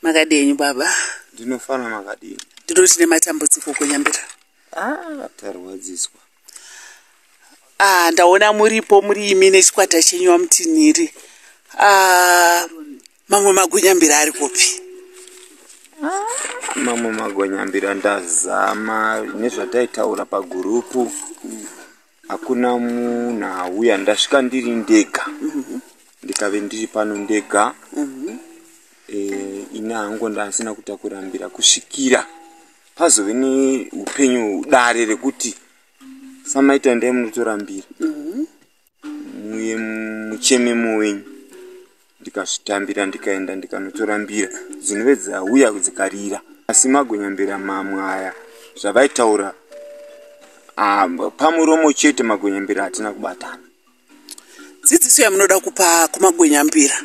makadii enyu baba ndinofana makadii ndiro tine matambudziko kunyambira ah, tarwadziswa ah, ndaona muripo muri imi nechikwata chenyu wamutinhiri ah, mamwe magonyambira ari kupi ah, mamwe magonyambira ndazama nezvataitaura pagurupu mm. hakuna munhu auya ndasvika ndiri ndega mhm. ndikave ndiri pano ndega mhm. eh, ini hangu ndasina kuta kurambira kusvikira pazove neupenyu dare rekuti samaita ndai munotorambira mhm. muye muchememo wenyu ndikazvitambira ndikaenda ndikanotora mbira dzinove dzauya dzikarira asi magonyambira mamwe aya zvavaitaura ah, pamuromo chete magonyambira hatina kubatana dzidziso yamunoda kupa kumagwenyambira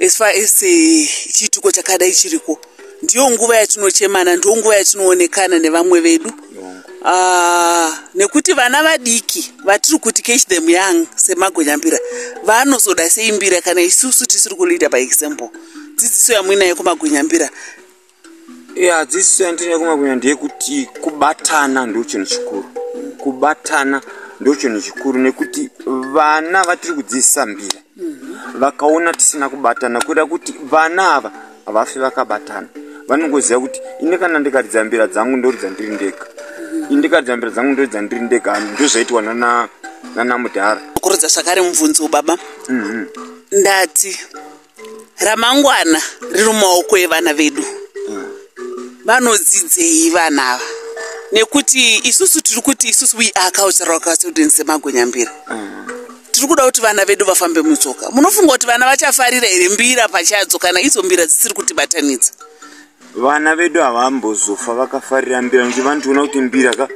as far as eh, chiitiko chakadai chiriko ndiyo nguva yatinochemana ndiyo nguva yatinoonekana nevamwe vedu Ah, nekuti vana vadiki vatiri kuti catch them young semagonyambira vanozoda seimbira kana isusu tisiri kuliita by example dzidziso yamuinayo kumagonyambira ya dzidziso yandinayo kumagunya ndeyekuti kubatana ndo chinhu chikuru kubatana ndo chinhu chikuru nekuti vana vatiri kudzidzisa mbira vakaona tisina kubatana kuda kuti vana ava havafi vakabatana vanongoziva kuti ini kana ndikaridza mbira dzangu ndoridza ndiri ndega ini ndikaridza mbira dzangu ndoridza ndiri ndega ndozvaitwa nana nana mudhara kuridza zvakare mubvunzo baba mhm. ndati ramangwana riri mumaoko evana vedu mm. vanodzidzei vana ava nekuti isusu tiri kuti isusu we are cultural custodians semagonyambira mm. tiri kuda kuti vana vedu vafambe mutsoka munofunga kuti vana vachafarira here mbira pachadzo kana idzo mbira dzisiri kutibatanidza vana vedu havambozofa vakafarira mbira nekuti vanotiona kuti mbira ka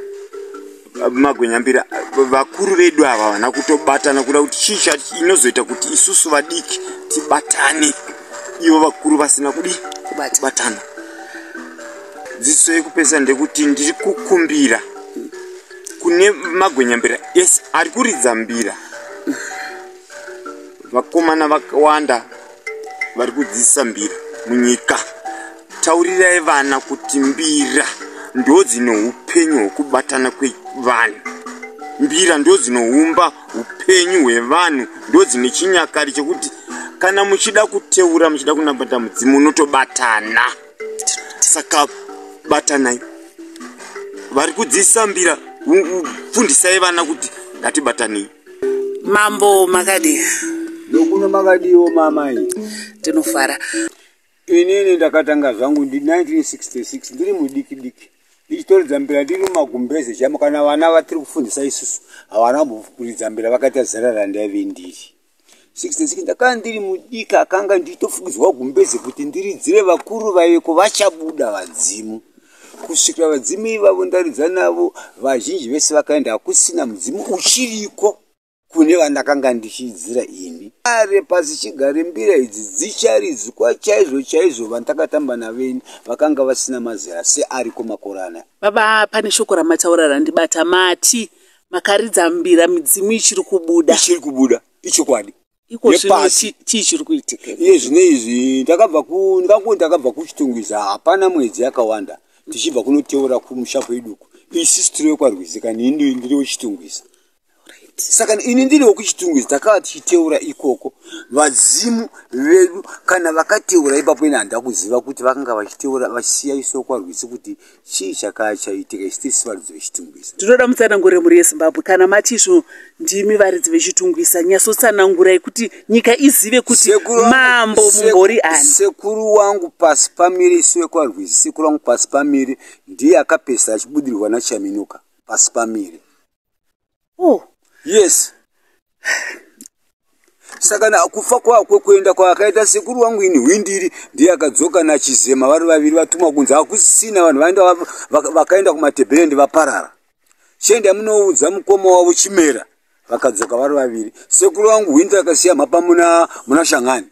magwenya mbira vakuru vedu ava havana kutobatana kuda kuti chii chati inozoita kuti isusu vadiki tibatane ivo vakuru vasina kudi kubatana dziso yekupesa ndekuti ndiri kukumbira kune magwenyambira yes ari kuridza mbira vakomana vakawanda vari kudzidzisa mbira munyika taurirai vana kuti mbira ndo dzine upenyu hwekubatana kwevanhu mbira ndo dzinoumba upenyu hwevanhu ndo dzine chinyakari chekuti kana muchida kuteura muchida kunabata mudzimu unotobatana saka batanai vari kudzidzisa mbira fundisai vana kuti ngatibatanei mambo makadii nokuno makadiiwo mamai tinofara inini ndakatanga zvangu ndi 1966 ndiri mudiki diki ndichitoridza mbira ndiri mumagumbeze chamo kana vana vatiri kufundisa isusu havana mbokuridza mbira vakaita zera randaive ndiri 66 ndakanga ndiri mudiki akanga nditofukidzwa gumbeze kuti ndiridzire vakuru vaiveko vachabuda vadzimu kusvikira vadzimu ivavo ndaridza navo vazhinji vese vakaenda hakusina mudzimu uchiriko kune vandakanga ndichiidzira ini are pasi chigare mbira idzi dzicharidzwa chaizvo chaizvo vandakatamba naveni vakanga vasina mazera seariko makorana baba pane shoko ramataura randibata mati makaridza mbira midzimu ichiri kubuda ichiri kubuda ichokwadi iko zvino chii chiri kuitika iye zvino izvi ndakabva ku ndikakuti ndakabva kuchitungwiza hapana mwedzi yakawanda tichibva kunoteura kumusha kweduku isisu tiri wekwarwizika nini ndiri wechitungwiza saka ini ndiri wekuchitungwiza takava tichiteura ikoko vadzimu vedu kana vakateura ipapo ini handida kuziva kuti vakanga vachiteura vachisiya isu wekwarwizi kuti chii chakaa chaitika isu tisi varidzi vechitungwisa tinoda mutsanangure mhuri yezimbabwe kana mati izvo ndimi varidzi vechitungwisa nyasotsanangurai kuti nyika izive kuti mambo mumbori ani sekuru wangu pasi pamiri isu vekwarwizi sekuru wangu pasi pamiri ndiye akapesera achibudirwa nachaminuka pasi pamiri oh. yes saka na kufa kwakwe kuenda kwaakaita sekuru wangu ini hwindiri ndiye akadzoka nachizema vari vaviri vatumwa kunzi hakusisina vanhu vaenda vakaenda kumatebherendi vaparara chiende amunoudza mukoma wavo chimera vakadzoka vari vaviri sekuru wangu hwindiri akasiya mhapa muna, muna shangani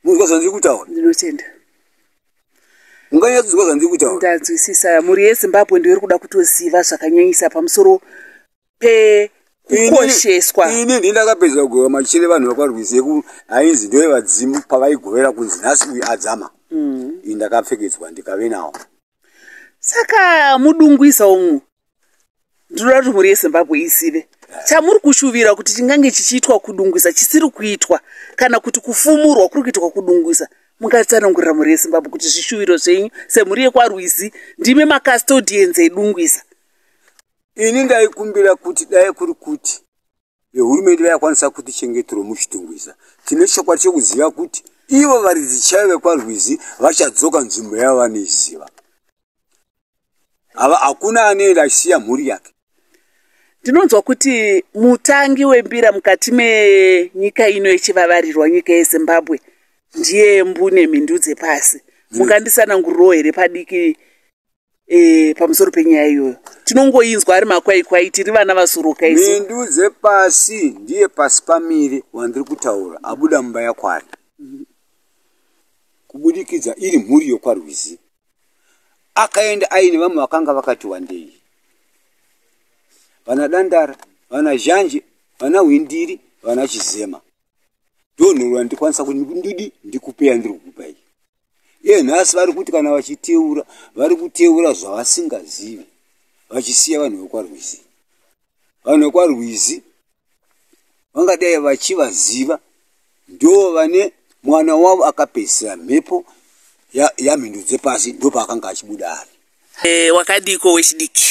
munzwa zvandiri kutaura ndinotenda unganyatsinzwa zvandiri kutaura ndanzwisisa mhuri yezimbabwe ndiyo iri kuda kutoziva zvakanyanyisa pamusoro pekukosheswa ini ndi ndakapedza kugova machere vanhu vakwarwizi yeku ainzi ndoye vadzimu pavaigovera kunzi nhasi uyu adzama mm. ini ndakapfekedzwa ndikave nawo saka mudungwisa umu ndinoda kuti mhuri yezimbabwe izive chamuri kushuvira kuti chingange chichiitwa kudungwisa chisiri kuitwa kana kuti kufumurwa kuri kuitwa kudungwisa mungatsanangurira mhuri yezimbabwe kuti zvishuviro zvenyu semhuri yekwarwizi ndimi macustodians edungwisa ini ndaikumbira kuti dai kuri kuti vehurumende vayakwanisa kuti chengetero muchitungwiza tine chokwadi chokuziva kuti ivo varidzi chaivo vekwarwizi vachadzoka nzvimbo yavo vanoiziva ava hakuna anoenda achisiya mhuri yake ndinonzwa kuti mutangi wembira mukati menyika ino yechivavarirwa nyika yezimbabwe ndiye mbune mhindu dzepasi mungandisanangurirowo here padiki e, pamusoro penyaya iyoyo tinongoinzwa ari makwaikwai tiri vana vasuruka isu mhindu dzepasi ndiye pasi pamiri wandiri kutaura abuda mumba yakwari kubudikidza iri mhuri yokwarwizi akaenda aine vamwe vakanga vakati wandei vana dandara vana zhanje vana hwindiri vana chizema ndonhorwa ndikwanisa kuti ndidi ndikupeya ndiri kukupai iye nhasi vari kuti kana vachiteura vari kuteura zvavasingazivi vachisiya vanhu vekwarwizi vanhu vekwarwizi vangadai vachivaziva ndo vane mwana wavo akapedzisira mhepo yamhindu ya dzepasi ndo paakanga achibuda ari e, wakadiko wechidiki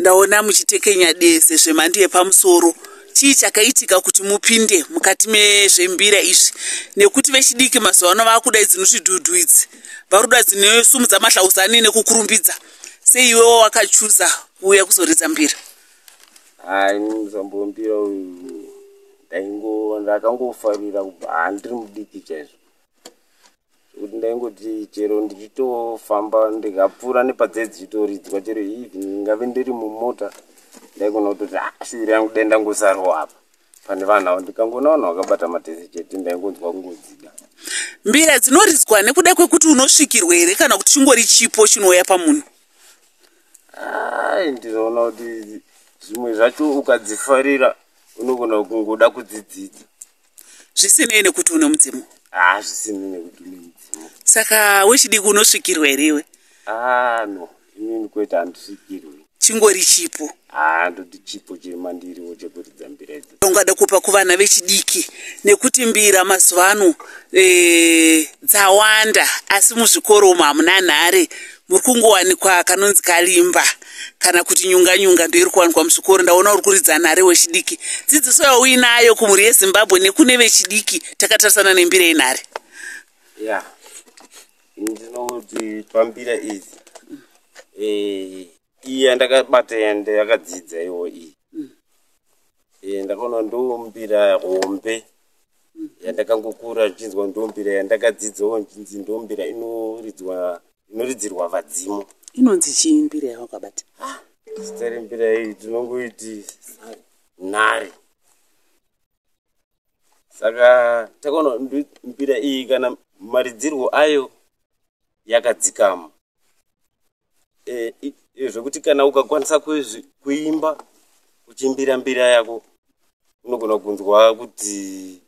Ndaona muchitekenya deze zvemhando yepamusoro. Chii chakaitika kuti mupinde mukati mezvembira izvi? Nekuti vechidiki mazuva ano vakuda idzi notidhudhu idzi. Varuda dzinosumudza mahlauzani nekukurumbidza. Sei iwewo wakachuza kuuya kuzoridza mbira? Hai, muzambombira uyu ndaingo ndakangofarira kubva handiri mudiki chaizvo. zvekuti ndaingoti chero ndichitofamba ndikapfuura nepadzedzi dzichitoridzwa chero even ndingave ndiri mumota ndaigona kutoti ah, shuviro yangu dai ndangosarwa apa pane vanhu avo ndikangoona vanhu vakabata matese chete ndaingonzwa kungodzida mbira dzinoridzwa nekuda kwekuti unosvikirwa here kana kuti chingori chipo chinouya pamunhu ai ndinoona kuti zvimwe zvacho ukadzifarira unogona kungoda kudzidzidza zvisinei nekuti une mudzimu ah, zvisinei nekuti une mudzimu saka wechidiki unosvikirwa here iwe ah, no inini kwete handisvikirwi chingori chipo ah, ndoti chipo chiri mandiriwo chekuridza mbira idzo ungada kupa kuvana vechidiki nekuti mbira mazuva ano e, dzawanda asi muzvikoro umo hamuna nhare muri kungowanikwa kanonzi kalimba kana kuti nyunga nyunga ndoiri kuwanikwa muzvikoro ndaona uri kuridza nhare wechidiki dzidziso yauinayo kumhuri yezimbabwe nekune vechidiki takatarisana nembira yenhare ya ndinoti pambira izi eh, iyi yandakabata yande yakadzidza iwo iyi mm. eh, ndakaona ndombira hombe yandakangokura ndichinzwa ndombira yandakadzidzawo ndinzi ndombira inoridzwa inoridzirwa vadzimu inonzi chii mbira yavakabata ah, zita rembira iyi tinongoiti nhari saka takaona mbira iyi kana maridzirwo ayo yakadzikama e, e, zvekuti kana ukakwanisa kuimba uchimbira mbira yako unogona kunzwa kuti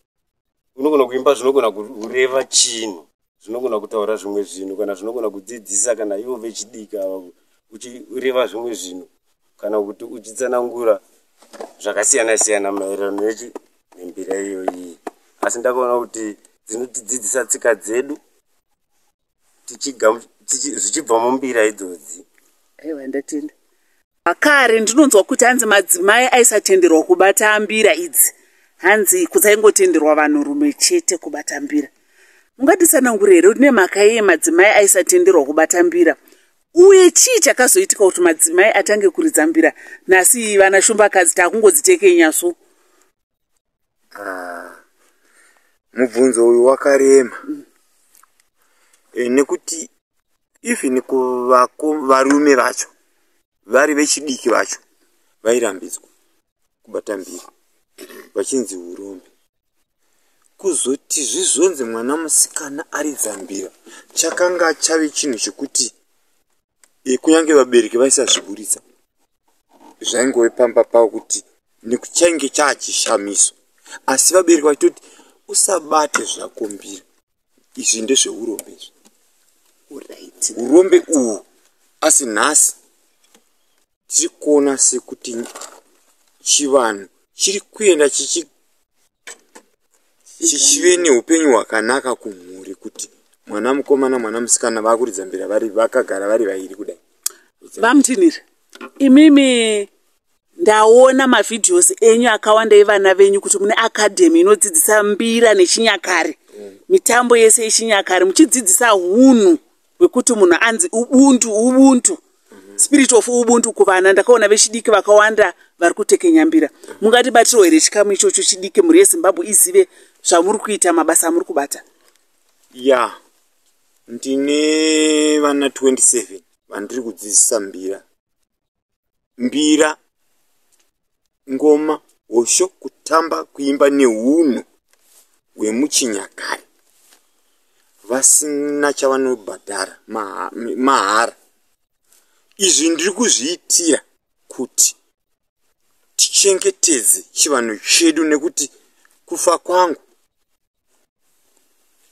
unogona kuimba zvinogona kureva chinhu zvinogona kutaura zvimwe zvinhu kana zvinogona kudzidzisa kana ivo vechidiki ava uchireva zvimwe zvinhu kana kuti uchitsanangura zvakasiyana siyana maererano nechi nembira iyoyi asi ndakaona kuti dzinotidzidzisa tsika dzedu zvichibva mumbira idzodzi aiwa ndatenda makare ndinonzwa kuti hanzi madzimai aisatenderwa kubata mbira idzi hanzi kudzaingotenderwa vanhurume chete kubata mbira mungatisanangure here kuti nemhaka yeye madzimai aisatenderwa kubata mbira uye chii chakazoitika kuti madzimai atange kuridza mbira nhasi vana shumbakadzi taakungodzitekenya so Ah, mubvunzo uyu wakarema mm. e, nekuti even kuvako varume vacho vari vechidiki vacho vairambidzwa kubata mbiri vachinzi urombe kuzoti zvizonzi mwana musikana ari dzambira chakanga chave chinhu chekuti e, kunyange vabereki vaisazviburitsa zvaingove pamba pavo kuti nekuchainge chaachishamiso asi vabereki vachitoti usabate zvakumbira izvi ndezveurombe izvi urombe uhu asi nhasi tiri kuona sekuti chivanhu chiri kuenda chichi chichive neupenyu hwakanaka kumhuri kuti mwana mukomana mwana musikana vakuridza mbira vari vakagara vari vairi kudai vamutiniri imimi ndaona mavhidhios enyu akawanda evana venyu kuti mune akadhemi inodzidzisa mbira nechinyakare mitambo yese yechinyakare muchidzidzisa hunhu wekuti munhu anzi ubuntu ubuntu mhm. spirit of ubuntu kuvana ndakaona vechidiki vakawanda vari kutekenyambira mungati batirwo here chikamu ichocho chidiki mhuri yezimbabwe izive zvamuri kuita mabasa amuri kubata ya yeah. ndine vana 27 vandiri kudzidzisa mbira mbira, ngoma, hosho, kutamba, kuimba nehunhu hwemuchinyakare vasina chavanobhadhara mahara. Izvi ndiri kuzviitira kuti tichengetedze chivanhu chedu nekuti kufa kwangu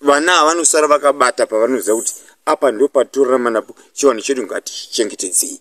vana havanosara vakabata pavanoziva kuti apa ndopatorarama napo chivanhu chedu ngatichengetedzei.